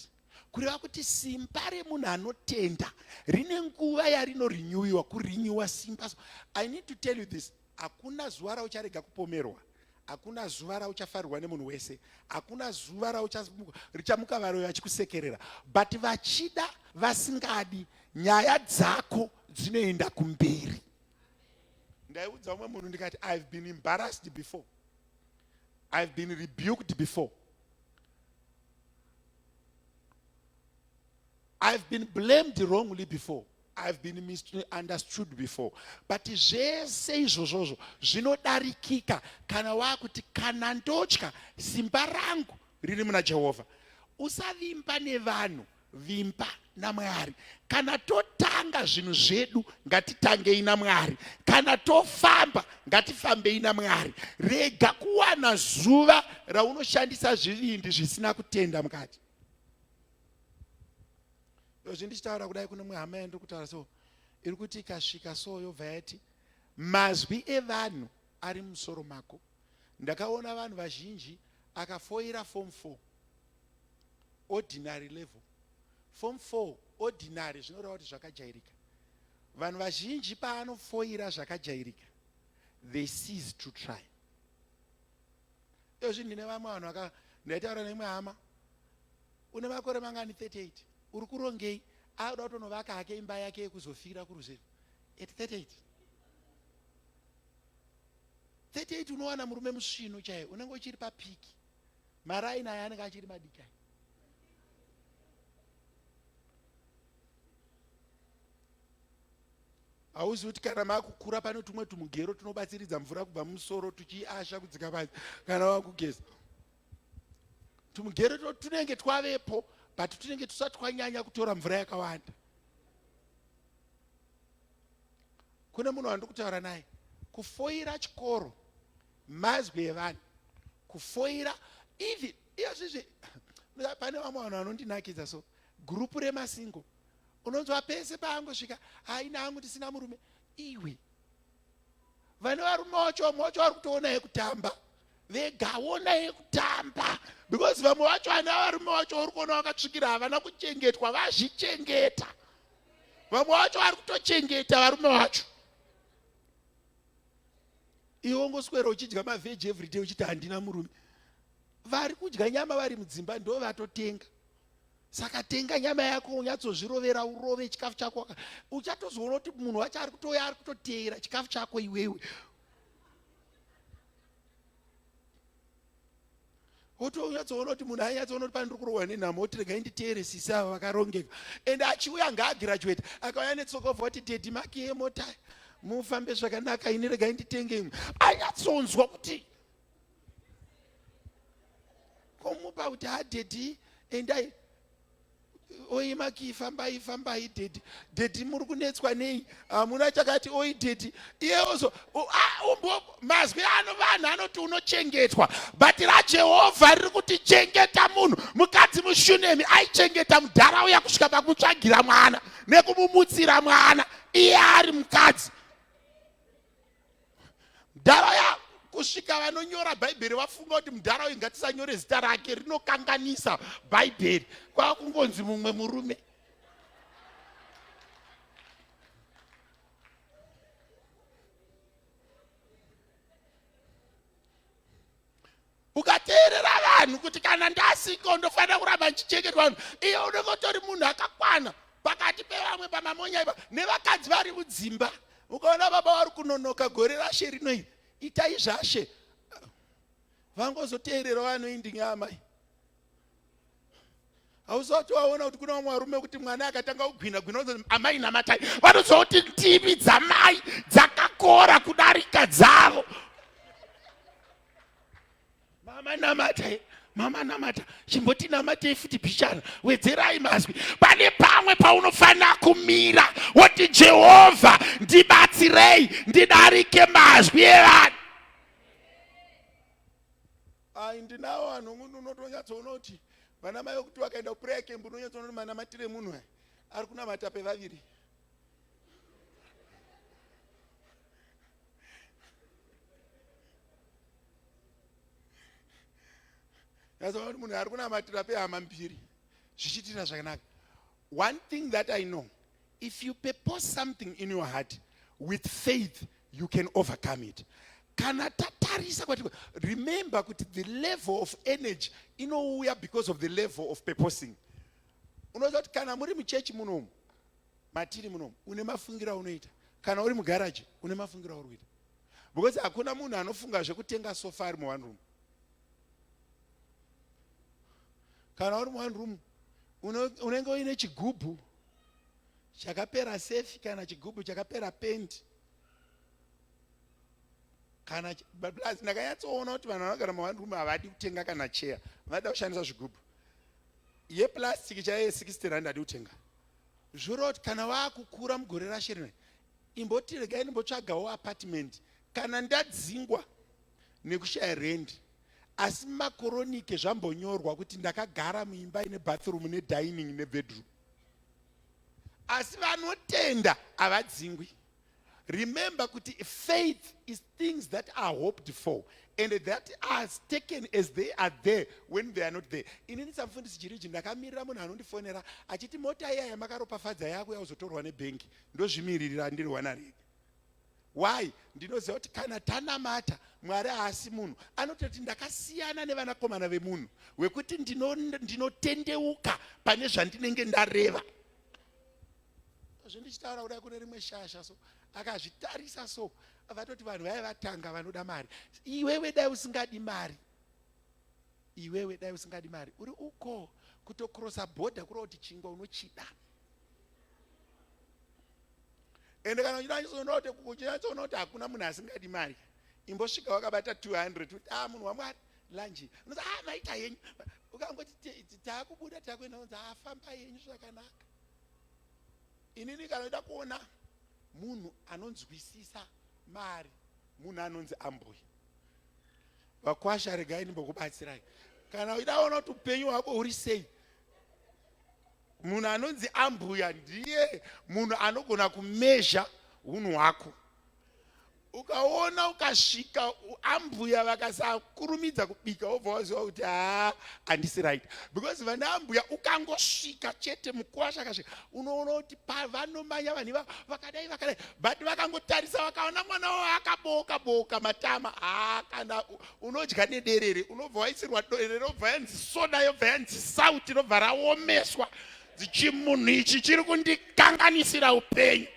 kureva kuti simba remunhu anotenda rine nguva yarinorenewiwa kurenewa simba so i need to tell you this hakuna zuva raucharega kupomerwa hakuna zuva rauchafarirwa nemunhu wese hakuna zuva rauchamuka varoyo vachikusekerera but vachida vasingadi nyaya dzako dzinoenda kumberi ndaiudza umwe munhu ndikati ihave been embarrassed before ihave been rebuked before I've been blamed wrongly before. I've been misunderstood before. But zvese izvozvozvo zvinodarikika kana wakuti kana ndotya simba rangu riri muna Jehovha. Usavimba nevanhu, vimba namwari kana totanga zvinhu zvedu ngatitangei namwari kana tofamba ngatifambei namwari rega kuwana zuva raunoshandisa zvivindi zvisina kutenda mukati izvi ndichitaura kudai kune mwe hama yandiri kutaura so iri kuti ikasvika so yobva yati mazwi evanhu ari musoro mako ndakaona vanhu vazhinji akafoira form four ordinary level form 4 ordinary zvinoreva kuti zvakajairika vanhu vazhinji paanofoira zvakajairika they cease to try ezvi ndine vamwe vanhu vaka ndaitaura neimwe hama une makore mangani 38 uri kurongei auda kutonovaka hake imba yake yekuzofira kuruzevha at 38 38 unowana murume musvinu chaiye unenge uchiri papiki maraini aya anenge achiri madiki aya hauzi kuti kana makukura pane tumwe tumugero tunobatsiridza mvura kubva mumusoro tuchiasha kudzika panzi kana wakugeza tumugero to tunenge twavepo but tunenge tusati twanyanya kutora mvura yakawanda kune munhu wandiri kutaura naye kufoira chikoro mazwi evanhu kufoira even iyozvizvi pane vamwe vanhu vanondinakidza so gurupu remasingo unonzwa pese paangosvika haina hangu ndisina murume iwe vane varume wacho mwacho vari kutoona yekutamba vegaona yekutamba because vamwe vacho vana varume vacho vari kuona vakatsvikira havana kuchengetwa vazvichengeta vamwe vacho vari kutochengeta varume vacho iwe ongoswera uchidya mavheji everyday uchiti handina murume vari kudya nyama vari mudzimba ndo vatotenga saka tenga nyama yako unyatsozvirovera urove chikafu chako uchatozoona kuti munhu wacho ari kutouya ari kutoteera chikafu chako iwewe wotonyatsoona kuti munhu ainyatsoona kuti pane ndiri kurohwa nenhamo woti regai nditeere sisi ava vakarongeka and achiuya ngaagraduate akauya netsokovha wati dedi maki yemota mufambe zvakanaka ini regai nditenge imwe anyatsonzwa kuti komupa kuti hadedi endai oi maki fambai fambai dedi dedi muri kunetswa nei hamuna chakati oi dedi iye ozo mazwi ano vanhu anoti unochengetwa but rajehovha riri kuti chengeta munhu mukadzi mushunemi aichengeta mudhara uya kusvika pakumutsvagira mwana nekumumutsira mwana iye ari mukadzi mdhara ya kusvika vanonyora bhaibheri vafunga kuti mdhara uyu ngatisanyore zita rake rinokanganisa bhaibheri kwava kungonzi mumwe murume ukateerera vanhu kuti kana ndasiko ndofanira kuramba ndichichengetwa vanhu iye unenge utori munhu akakwana pakati pevamwe pamamonya ipa nevakadzi vari mudzimba ukaona baba wari kunonoka gore rashe rinoi itai zvashe vangozoteerera vanoindinga amai hausati waona kuti kuna vamwe varume kuti mwana akatanga kugwina gwina uzo amai namatai vanoziva kuti ndimi dzamai dzakakora kudarika dzavo mama namata mama namata chimboti namatei futi bichana wedzerai mazwi pane pamwe paunofanira kumira woti jehovha ndibatsirei ndidarike mazwi evanhu ai ndinawo vanhu munhu unotonyatsoona kuti vana mai vekuti vakaenda kupureya kembu unonyatsoona kuti manamatire munhu aya ari kunamata pevaviri nazoona kuti munhu ari kunamatira pehama mbiri zvichiitira zvakanaka one thing that i know if you purpose something in your heart with faith you can overcome it kana tatarisa kwati remember kuti the level of energy inouya because of the level of purposing unoziva kuti kana muri muchechi munomu matiri munomu une mafungiro aunoita kana uri mugaraji une mafungiro auri kuita because hakuna munhu anofunga zvekutenga sofa ari muone room kana uri muone room unenge uine chigubhu chakapera sefi kana chigubhu chakapera pendi kana plus ndakanyatsoona kuti vanhu vanogara muone room havadi kutenga kana cheya vanoda kushandisa zvigubhu yeplastic chaiye 60 rand adi kutenga Zvoroti kana vakukura mugore rashe rino imboti regai ndimbotsvagawo apartment kana ndadzingwa nekushaya rendi asi makoronike zvambonyorwa kuti ndakagara muimba ine bathroom nedining nebedroom asi vanotenda havadzingwi Remember kuti faith is things that are hoped for and that are taken as they are there when they are not there. Inini samfundisi Jiriji ndakamirira munhu anondifonera achiti mota iya yamakaropafadza yako yauzotorwa nebhengi ndozvimiririra ndiri wana rega. Why? Ndinoziva kuti kana tanamata Mwari haasi munhu anototi ndakasiyana nevanakomana vemunhu wekuti ndinotendeuka ndino pane zvandinenge ndareva. zvindichitaura kudai kune rimwe shasha so akazvitarisa so vatoti vanhu vaya vatanga vanoda mari iwewe dai usingadi mari iwewe dai usingadi mari uri uko kutokrosa bhodha kureva kuti chingwa unochida ende kana uchinatsoona kuti hakuna munhu asingadi mari imbosvika wakabata 200 kuti a ah, munhu wamwari lanji unozi a ah, maita yenyu ukangoti taakubuda takuenda unzi afamba ah, yenyu zvakanaka inini kana ida kuona munhu anonzwisisa mari munhu anonzi ambuya vakwasha regai ndimbokubatsirai kana uida ona kuti upenyu hwako huri sei munhu anonzi ambuya ndiye munhu anogona kumezha unhu hwako ukaona ukasvika ambuya vakasakurumidza kubika wobva waziva kuti haa handisi right because vana ambuya ukangosvika chete mukwasha akasvika unoona kuti pavanomanya vanhu ivavo vakadai vakadai but vakangotarisa vakaona mwana wavo akabooka booka matama haa kana unodya nederere unobva waisirwa dorere obva yanzi soda yobva yanzi sauti inobva raomeswa dzichimunhu ichi chiri kundikanganisira upenyu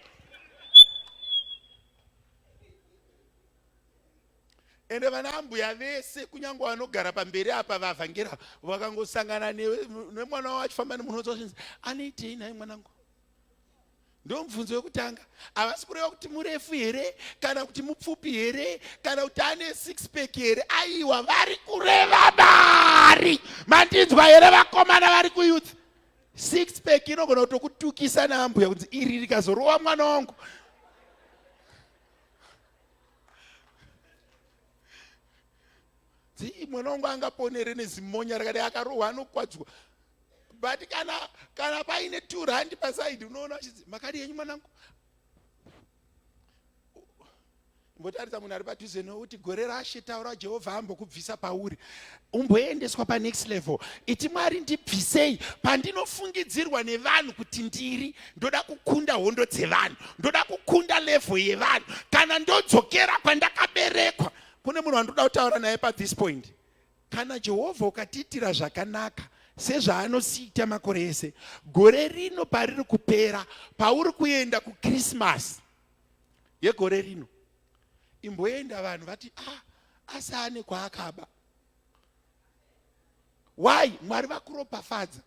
ende vana ambuya vese kunyange vanogara pamberi apa vavhangera vakangosangana nemwana wavo achifamba nemunhu wozozvinzi anoitei nhai mwanangu ndo mubvunzo wekutanga havasi kureva kuti murefu here kana kuti mupfupi here kana kuti ane six pack here aiwa vari kureva mari mandinzwa here vakomana vari kuyuth six pack inogona kutokutukisa naambuya kunzi iri rikazorowa mwana wangu dzii mwana wangu angaponere nezimonya rakadai akarohwa anokwadzwa but kana kana paine two rand pasaidi unoona achidzi makadi yenyu mwanangu imbotarisa munhu ari padhuze no kuti gore rashe taura jehovha ambokubvisa pauri umboendeswa panext level iti mwari ndibvisei pandinofungidzirwa nevanhu kuti ndiri ndoda kukunda hondo dzevanhu ndoda kukunda level yevanhu kana ndodzokera kwandakaberekwa kune munhu wandoda kutaura naye pathis point Kana Jehovha ukatiitira zvakanaka sezvaanosiita makore ese, gore rino pariri kupera, pauri kuenda kuKrisimasi yegore rino, imboenda vanhu vati ah, asi ane kwaakaba. Why? Mwari vakuropafadza.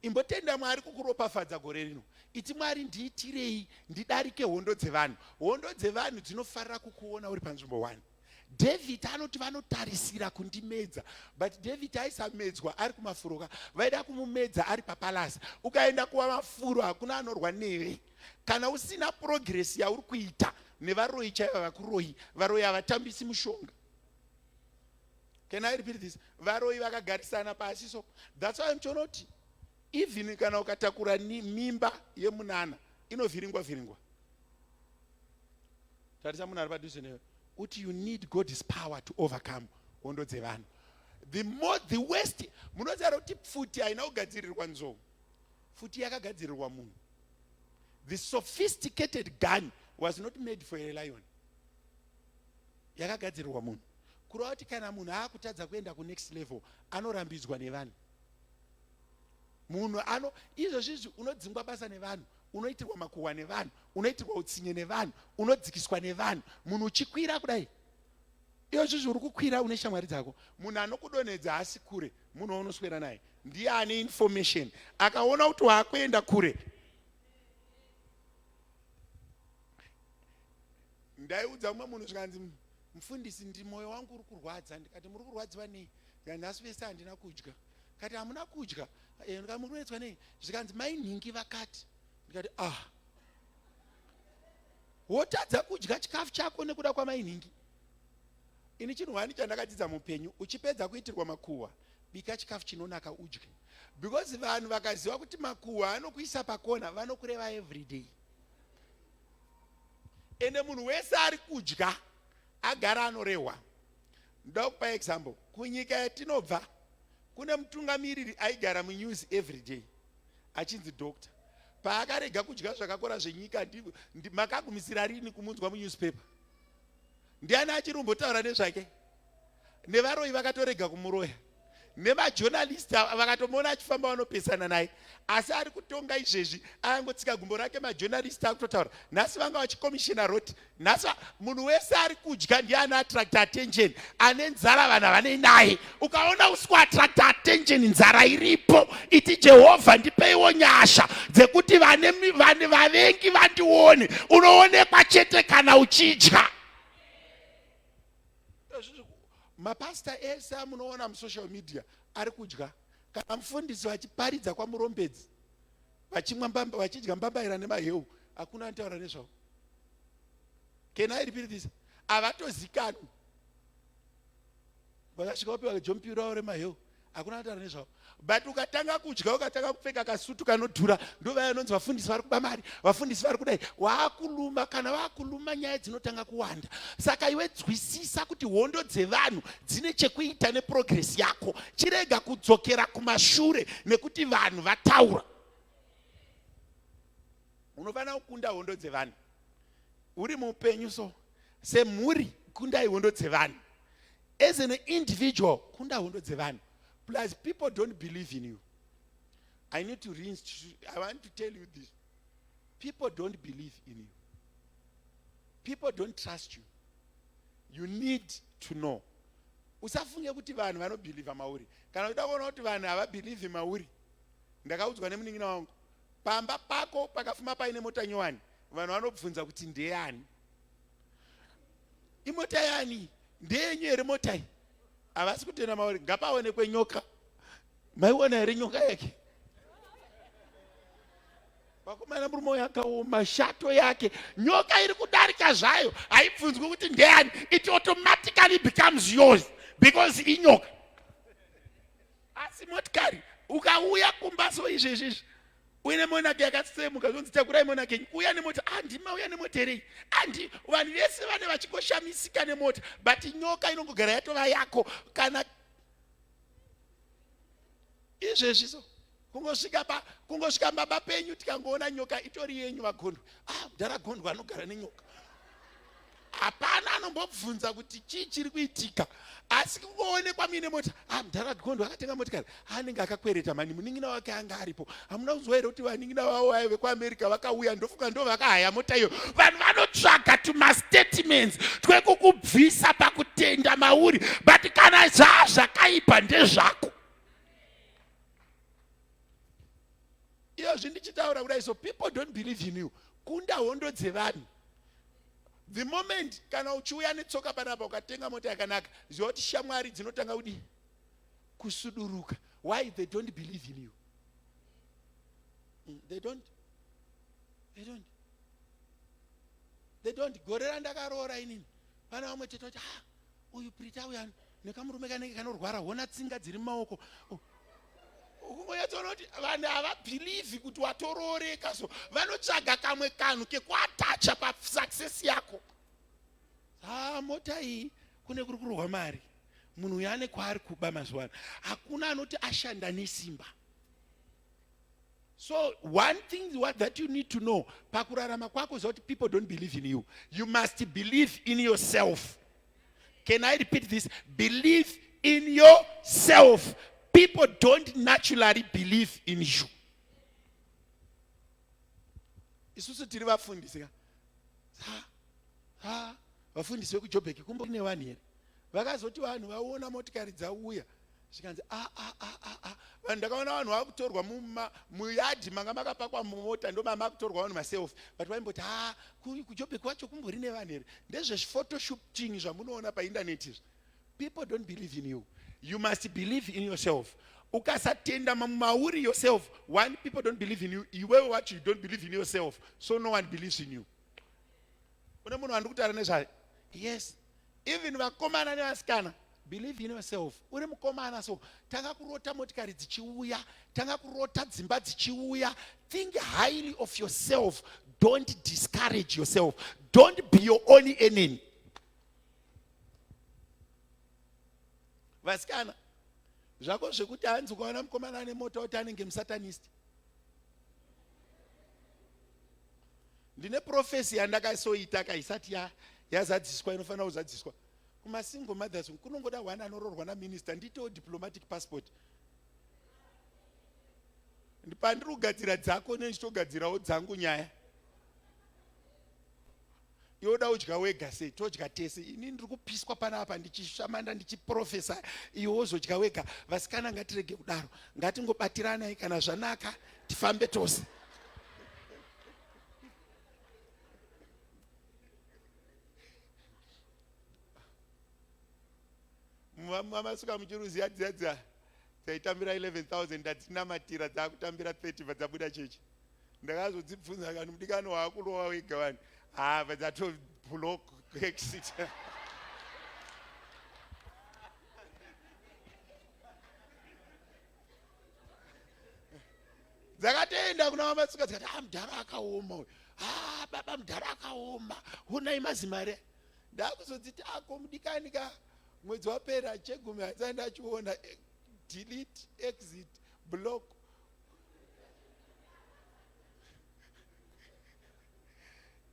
Imbotenda Mwari kukuropafadza gore rino. Iti Mwari ndiitirei ndidarike hondo dzevanhu. Hondo dzevanhu dzinofarira kukuona uri panzvimbo one. David anoti vanotarisira kundimedza but David aisamedzwa ari kumafuroka vaida kumumedza ari papalasi ukaenda kuva mafuro hakuna anorwa newe kana usina purogiresi yauri kuita nevaroyi chaiva vakuroyi varoyi havatambisi mushonga can i repeat this varoyi vakagarisana pasi so that's why mchonoti even kana ukatakura mimba yemunana inovhiringwa vhiringwa tarisa munhu ari padhuze newe uti you need god's power to overcome hondo dzevanhu the more the west munozara kuti pfuti haina kugadzirirwa nzou pfuti yakagadzirirwa munhu the sophisticated gun was not made for a lion yakagadzirirwa munhu kureva kuti kana munhu aakutadza kuenda kunext level anorambidzwa nevanhu munhu ano izvozvizvi unodzingwa basa nevanhu unoitirwa makuhwa nevanhu unoitirwa utsinye nevanhu unodzikiswa nevanhu munhu uchikwira kudai izvozvizvi uri kukwira une shamwari dzako munhu anokudonhedza haasi kure munhu waunoswera naye ndiye ane information akaona kuti waakuenda kure ndaiudza umwe munhu zvikanzi mufundisi ndi moyo wangu uri kurwadza ndikati muri kurwadziwa nei ndika nhasi vese handina kudya kati hamuna kudya eh, ndika muri kunetswa nei zvikanzi mai nhingi vakati ndikati ah wotadza kudya chikafu chako nekuda kwamai nhingi ini chinhu wani chandakadzidza mupenyu uchipedza kuitirwa makuhwa bika chikafu chinonaka udye because vanhu vakaziva kuti makuhwa anokuisa pakona vanokureva everyday ende munhu wese ari kudya agara anorehwa ndoda kupa example kunyika yatinobva kune mutungamiriri aigara munews everyday achinzi doctor paakarega kudya zvakakora zvenyika makagumisira rini kumunzwa munewspaper ndiani achiri kumbotaura nezvake nevaroyi vakatorega kumuroya nemajonalisti ava vakatomuona achifamba vanopesana naye asi ari kutonga izvezvi ayangotsika gumbo rake majonalisti akutotaura nhasi vanga vachikomishina roti nhasi munhu wese ari kudya ndiye anoattracta attention ane nzara vanhu havanei naye ukaona usi kuattracta attention nzara iripo iti jehovha ndipeiwo nyasha dzekuti vavengi vandione unoonekwa chete kana uchidya mapasita ese amunoona musocial media ari kudya kana mufundisi vachiparidza kwamurombedzi vachidya mbambaira nemaheu hakuna anotaura nezvavo can i repeat this havatozikanwi vakasvika vapiwa kajompi ravo remaheu hakuna kutaura nezvavo but ukatanga kudya ukatanga kupfeka kasutu kanodhura ndovaya anonzi vafundisi vari kuba mari vafundisi vari kudai waakuluma kana vaakuluma nyaya dzinotanga kuwanda saka iwe dzwisisa kuti hondo dzevanhu dzine chekuita neprogress yako chirega kudzokera kumashure nekuti vanhu vataura unofanira kukunda hondo dzevanhu uri mupenyu so semhuri kundai hondo dzevanhu as an individual kunda hondo dzevanhu plus people don't believe in you i need to rinse i want to tell you this people don't believe in you people don't trust you you need to know usafunge kuti vanhu vanobhilivha mauri kana uchida kuona kuti vanhu havabhilivhi mauri ndakaudzwa nemunin'ina wangu pamba pako pakafuma paine mota nyowani vanhu vanobvunza kuti ndeyani imota yani ndeyenyu here mota iyi havasi kutenda mauri ngapaonekwe nyoka maiona here nyoka yake vakomana murume uyo akaoma shato yake nyoka iri kudarika zvayo haibvunzwi kuti ndeyani it automatically becomes yours because inyoka asi motikari ukauya kumba so izvezvizvi uye nemonaki yakatsemuka zvonzi takurai monaki enyu uya nemota handi ah, mauya nemota here handi ah, vanhu vese vane vachingoshamisika nemota but nyoka inongogara yatova yako kana izvezvi so kungosvika pa kungosvika baba penyu tikangoona nyoka itori yenyu vagondwa ah mdhara gondwa anogara nenyoka hapana anombobvunza kuti chii chiri kuitika asi kungoonekwa muine mota ah, mdhara gondo akatenga motikari anenge akakwereta mani munin'ina wake anga aripo hamuna kuziva here kuti vanin'ina vavo vaye vekuamerica vakauya ndofunga ndo vakahaya mota iyo vanhu vanotsvaga tumastatements twekukubvisa pakutenda mauri but kana zvaa zvakaipa ndezvako iyozvi ndichitaura kudai so people don't believe in you kunda hondo dzevanhu The moment kana uchiuya netsoka panapa ukatenga mota yakanaka, ziva kuti shamwari dzinotanga kudii? Kusuduruka. Why? They don't believe in you. Mm, they don't. They don't. They don't. Gore randakaroora inini, pana vamwe chete kuti ah, uyu Prita uya nekamurume kanenge kanorwara hona tsinga dziri mumaoko oh, ukungonyatsoona kuti vanhu havabhilivhi kuti watorooreka so vanotsvaga kamwe kanhu kekuatacha pasuccess yako haa ah, mota iyi kune kuri kurohwa mari munhu uyo ane kwaari kuba mazuva ano hakuna anoti ashanda nesimba so one thing what that you need to know pakurarama kwako zva kuti people don't believe in you you must believe in yourself Can I repeat this? Believe in yourself. People don't naturally believe in you. isusu tiri vafundisi ka vafundisi vekujobheki kumbori nevanhu here vakazoti vanhu vaona motikari dzauya zvikanzi a a a a a vanhu ndakaona vanhu vakutorwa muma muyadhi manga makapakwa mumota ndoma makutorwa vanhu maselfi but vaimboti ha kujobek kwacho kumbori nevanhu here ndezvezviphotoshooting zvamunoona paindaneti izvi people don't believe in you you must believe in yourself ukasatenda mauri yourself one people don't believe in you iwewe wacho you don't believe in yourself so no one believes in you une munhu wandikutaura nezvaye yes even vakomana nevasikana believe in yourself uri mukomana so tanga kurota motikari dzichiuya tanga kurota dzimba dzichiuya think highly of yourself don't discourage yourself don't be your only enemy vasikana zvako zvekuti hanzi ukaona mukomana ane mota kuti anenge musatanist ndine profesi yandakasoita ka isati ya yazadziswa inofanira kuzadziswa kumasingle mothers kunongoda one anororwa naminista ndiitewo diplomatic passport pandiri kugadzira dzako ne ndichitogadzirawo dzangu nyaya iwe uda udya wega sei todya tese ini ndiri kupiswa panapa ndichishamanda ndichiprofesa iwe wozodya wega vasikana ngatirege kudaro ngatingobatiranai kana zvanaka tifambe tose mamasuka muchiruziya dzadza dzaitambira 11000 ndadzinamatira dzakutambira 30 vadzabuda chechi ndakazodzibvunza kani mudikani waakurova wega vani hava ah, dzatoblock exit dzakatoenda kuna vamatsika dzikati a ah, mudhara akaoma uyu a ah, baba mudhara akaoma honai mazimare ndakuzodziti ako mudikani ka mwedzi wapera chegumi hatsai ndachiona eh, delete exit block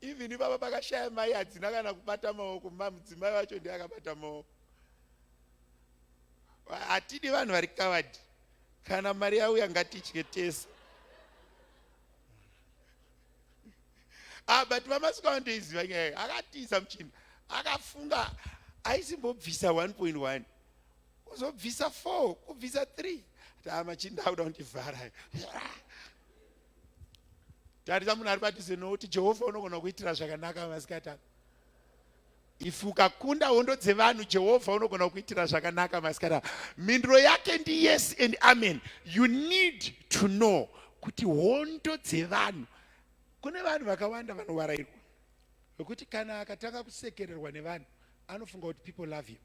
even ivava pakashaya mai hadzina kana kubata maoko mamudzimai wacho ndiye akabata maoko hatidi vanhu vari kavadi kana mari yauya ngatitye tese ah, but vamasuka vandoiziva nyaya akatiza muchinda akafunga aisimbobvisa 1.1 uzobvisa four kubvisa three taa machinda akuda kundivhara tarisa munhu ari padhuze nokuti jehovha unogona kuitira zvakanaka masikati ano if ukakunda hondo dzevanhu jehovha unogona kuitira zvakanaka masikati ano mhinduro yake ndi yes and amen you need to know kuti hondo dzevanhu kune vanhu vakawanda vanovarairwa vekuti kana akatanga kusekererwa nevanhu anofunga kuti people love you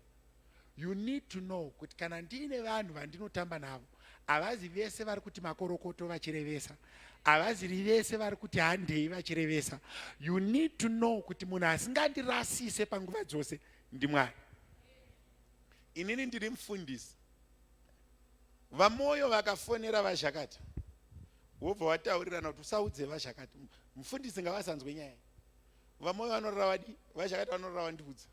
You need to know kuti kana ndiine vanhu vandinotamba navo havazi vese vari kuti makorokoto vachirevesa havaziri vese vari kuti handei vachirevesa you need to know kuti munhu asingandirasise panguva dzose ndimwari inini ndiri mufundisi vamwoyo vakafonera vazhakati wobva wataurirana kuti usaudze vazhakati mufundisi ngavasanzwe nyaya vamwoyo vanorora vadi vazhakati vanorora vandiudza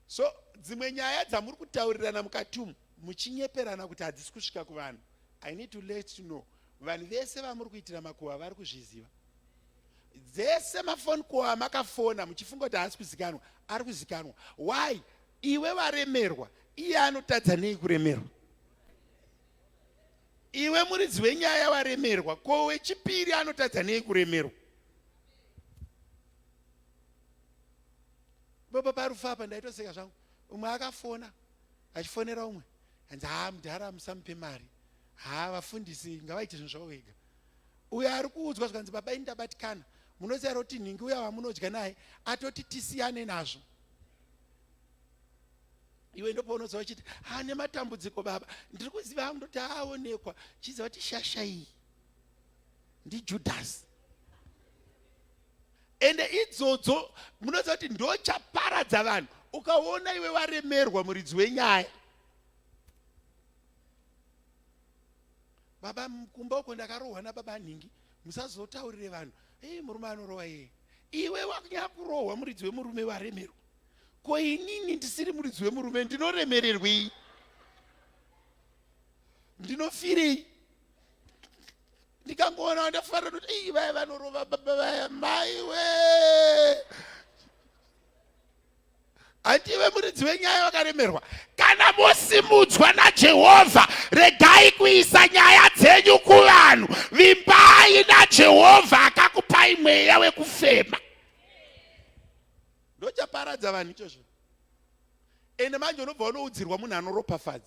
so dzimwe nyaya dzamuri kutaurirana mukati umu muchinyeperana kuti hadzisi kusvika kuvanhu i need to let to know vanhu vese vamuri kuitira makuhwa vari kuzviziva dzese mafoni kuhwa makafona muchifunga kuti haasi kuzikanwa ari kuzikanwa why iwe varemerwa iye anotadza nei kuremerwa iwe muridzi wenyaya waremerwa ko wechipiri anotadza nei kuremerwa Baba parufu apa ndaitoseka zvangu. Umwe akafona achifonera umwe hanzi haa mudhara musamupe mari. Haa vafundisi ngavaite zvinhu zvavo vega. Uyo ari kuudzwa zvikanzi baba ini ndabatikana. Munoziva roti nhingi uya wamunodya naye atoti tisiyane nazvo iwe ndopaunoziva uchiti ha nematambudziko baba ndiri kuziva hangu ndoti aonekwa chiziva kuti shasha iyi ndijudhasi ende idzodzo munoziva kuti ndochaparadza vanhu ukaona iwe varemerwa muridzi wenyaya baba kumba uko ndakarohwa nababa nhingi musazotaurire vanhu ei murume anorohwa iye iwe wakunyaya kurohwa muridzi wemurume varemerwa ko inini ndisiri muridzi wemurume ndinoremererwei ndinofirei ndikangoona ndafarira kuti ii vaya vanorova baba vaya mai we handive muridzi wenyaya vakaremerwa kana mosimudzwa najehovha regai kuisa nyaya dzenyu kuvanhu vimbai najehovha akakupai mweya wekufema ndochaparadza vanhu ichozvo ende manje unobva unoudzirwa munhu anoropafadza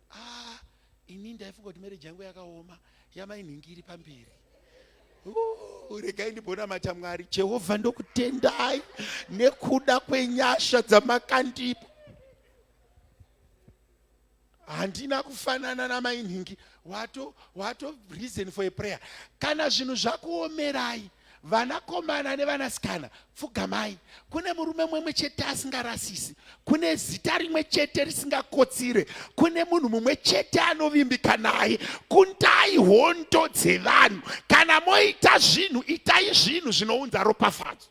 ah ini ndaifunga kuti marriage yangu yakaoma yamainhingi iri pamberi regai ndibonamata mwari jehovha ndokutendai nekuda kwenyasha dzamakandipa handina kufanana namainhingi wato wato reason for a prayer kana zvinhu zvakuomerai vanakomana nevanasikana pfugamai kune murume mwemwe chete asingarasisi kune zita rimwe chete risingakotsire kune munhu mumwe chete anovimbika naye kundai hondo dzevanhu kana moita zvinhu itai zvinhu zvinounza ropafadzo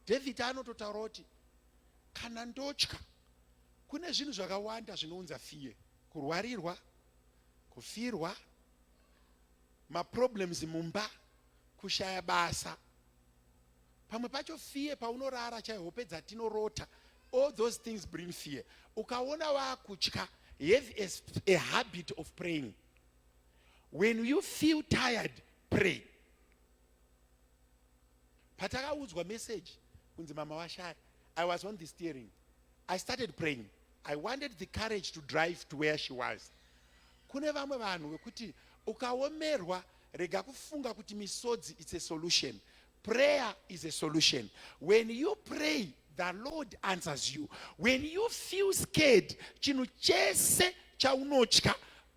dhavhidhi anototaura kuti kana ndotya kune zvinhu zvakawanda zvinounza fiye kurwarirwa kufirwa maproblems mumba kushaya basa pamwe pacho fear paunorara chai hope dzatinorota all those things bring fear ukaona wakutya have a, a habit of praying when you feel tired pray patakaudzwa message kunzi mama vashaya i was on the steering i started praying i wanted the courage to drive to where she was kune vamwe vanhu vekuti ukaomerwa rega kufunga kuti misodzi its a solution prayer is a solution when you pray the lord answers you when you feel scared chinhu chese chaunotya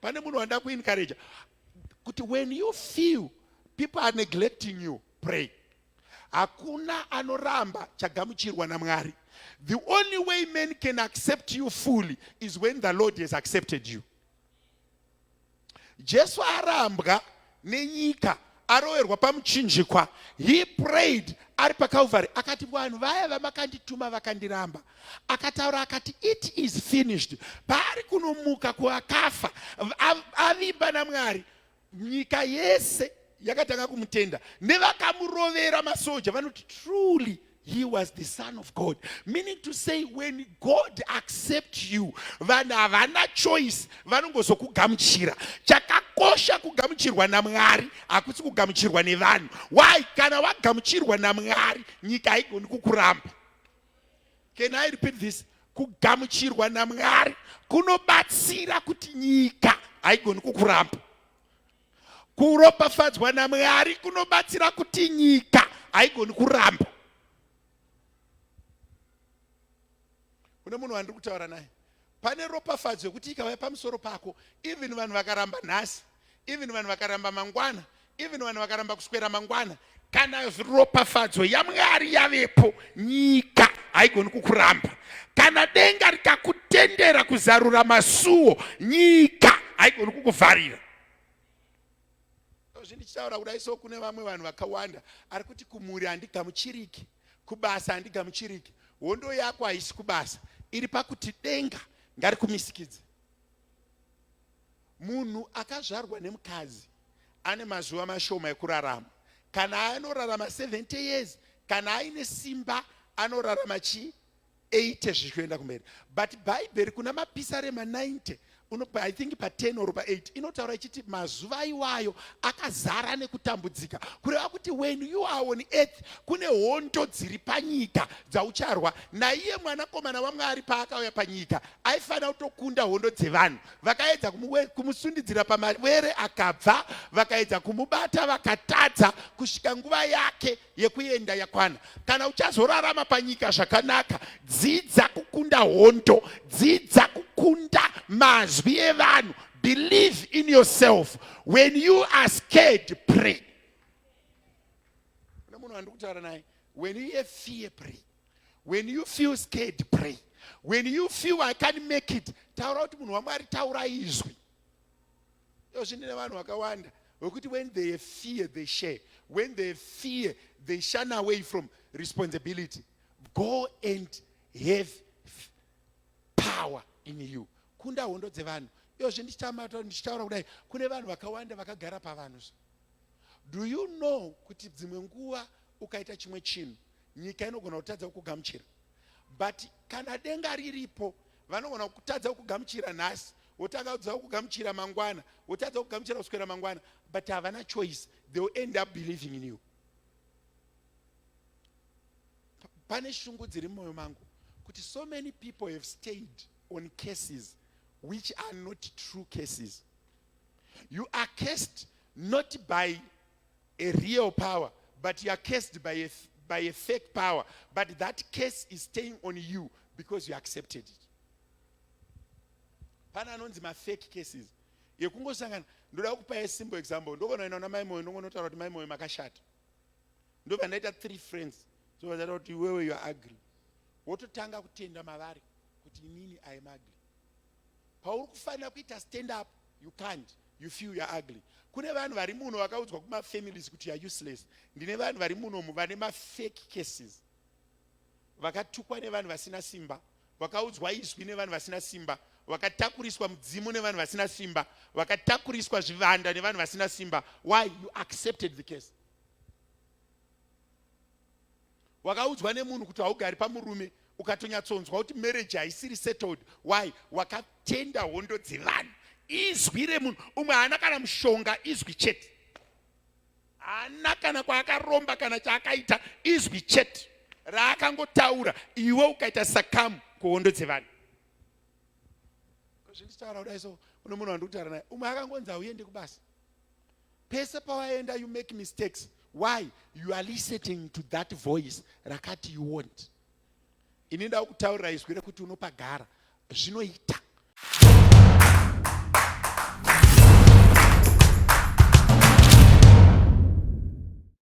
pane munhu wanda kuencourage kuti when you feel people are neglecting you pray hakuna anoramba chagamuchirwa namwari the only way men can accept you fully is when the lord has accepted you jesu arambwa nenyika aroverwa pamuchinjikwa he prayed ari pacalvary akati vanhu vaya vamakandituma vakandiramba akataura akati it is finished paari kunomuka kuakafa avimba namwari nyika yese yakatanga kumutenda nevakamurovera masoja vanoti truly he was the son of god meaning to say when god accept you vanhu havana choice vanongozokugamuchira chakakosha kugamuchirwa namwari hakusi kugamuchirwa nevanhu why kana wagamuchirwa namwari nyika haigoni kukuramba can i repeat this kugamuchirwa namwari kunobatsira kuti nyika haigoni kukuramba Kuropafadzwa naMwari kunobatsira kuti nyika haigoni kuramba. Kune munhu wandiri kutaura naye, pane ropafadzo yekuti ikauya pamusoro pako, even vanhu vakaramba nhasi, even vanhu vakaramba mangwana, even vanhu vakaramba kuswera mangwana, kana ropafadzo yamwari yavepo nyika haigoni kukuramba kana denga rikakutendera kuzarura masuwo nyika haigoni kukuvharira zvindichitaura kudai so kune vamwe vanhu vakawanda ari kuti kumhuri handigamuchiriki kubasa handigamuchiriki hondo yako haisi kubasa iri pakuti denga ngarikumisikidze Munhu akazvarwa nemukadzi ane mazuva mashoma ekurarama. Kana anorarama 70 years, kana aine simba anorarama chii? 80 zvichienda kumberi. But Bhaibheri kuna mapisarema 90 unopa i think pa10 or pa8 inotaura ichiti mazuva iwayo akazara nekutambudzika kureva kuti when you are on earth kune hondo dziri panyika dzaucharwa naiye mwanakomana wamwari paakauya panyika aifanira kutokunda hondo dzevanhu vakaedza kumusundidzira pamavere akabva vakaedza kumubata vakatadza kusvika nguva yake yekuenda yakwana kana uchazorarama panyika zvakanaka dzidza kukunda hondo dzidza kukunda mazwi evanhu believe in yourself when you are scared pray munhu wandikutaura naye when you hear fear pray When you feel scared, pray. When you feel I can't make it, taura kuti munhu wamwari taura izwi. Iyo zvine vanhu vakawanda wekuti when they fear they share. When they fear they shun away from responsibility. Go and have power in you. Kunda hondo dzevanhu. Iyo zvi ndichitaura kudai kune vanhu vakawanda vakagara pavanhu. Do you know kuti dzimwe nguva ukaita chimwe chinhu nyika inogona kutadza kukugamuchira but kana denga riripo vanogona kutadza kukugamuchira nhasi wotanga kudza kugamuchira mangwana wotadza kugamuchira kuswera mangwana but havana choice they will end up believing in you pane shungu dziri mumwoyo mangu kuti so many people have stayed on cases which are not true cases you are cased not by a real power but you are cursed by a, by a fake power but that curse is staying on you because you accepted it pana anonzi mafake cases yekungosangana ndoda kupa a simple example ndokonoenda kuna mai moyo ndongonotaura kuti mai moyo makashata ndobva ndaita three friends zovazata kuti iwewe you are ugly wototanga kutenda mavari kuti inini i am ugly pauri kufanira kuita stand up you can't you feel you're ugly kune vanhu vari muno vakaudzwa kumafamilies kuti you're useless ndine vanhu vari munomu vane mafake cases vakatukwa nevanhu vasina simba vakaudzwa izwi nevanhu vasina simba vakatakuriswa mudzimu nevanhu vasina simba vakatakuriswa zvivanda nevanhu vasina simba why you accepted the case wakaudzwa nemunhu kuti haugari pamurume ukatonyatsonzwa kuti marriage haisiri settled why wakatenda hondo dzevanhu izwi remunhu umwe haana kana mushonga izwi chete haana kana kwaakaromba kana chaakaita izwi chete raakangotaura iwe ukaita sakamu kuhondo dzevanhu zvinditaura kudai so une munhu wandikutaura naye umwe akangonzi hauende kubasa pese pawaenda you make mistakes why you are listening to that voice rakati you want ini ndava kutaurira izwi rekuti unopagara zvinoita